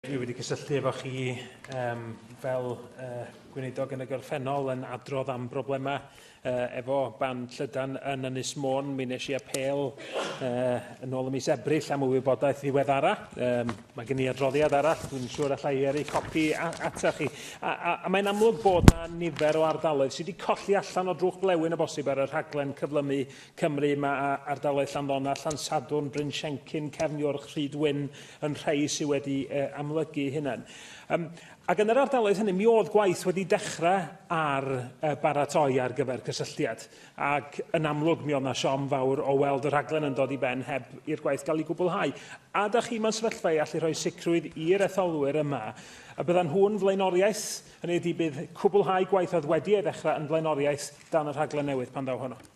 Dwi wedi cysylltu efo chi um, fel uh, gweinidog yn y gorffennol yn adrodd am broblemau uh, efo ban llydan yn Ynys Môn. Mi nes i apel uh, yn ôl y mis Ebrill am y wybodaeth ddiweddara. Um, mae gen i adroddiad arall, dwi'n siŵr allai i ei copi ata chi. A, a, a mae'n amlwg bod na nifer o ardaloedd sydd wedi colli allan o drwch blewyn y bosib ar y rhaglen cyflymu Cymru, mae ardaloedd Llanddona, Llansadwrn, Bryn Siencyn, Cefniwrch, Rhyd Wyn yn rhai sydd wedi amlygu hynny. Um, ac yn yr ardaloedd hynny, mi oedd gwaith wedi dechrau ar uh, baratoi ar gyfer cysylltiad. Ac yn amlwg, mi oedd na siom fawr o weld y rhaglen yn dod i ben heb i'r gwaith gael ei gwblhau. A da chi mewn sefyllfa i allu rhoi sicrwydd i'r etholwyr yma a byddan nhw'n flaenoriaeth, hynny ydy bydd cwblhau gwaith oedd wedi ei ddechrau yn flaenoriaeth dan y rhaglen newydd pan ddaw honno.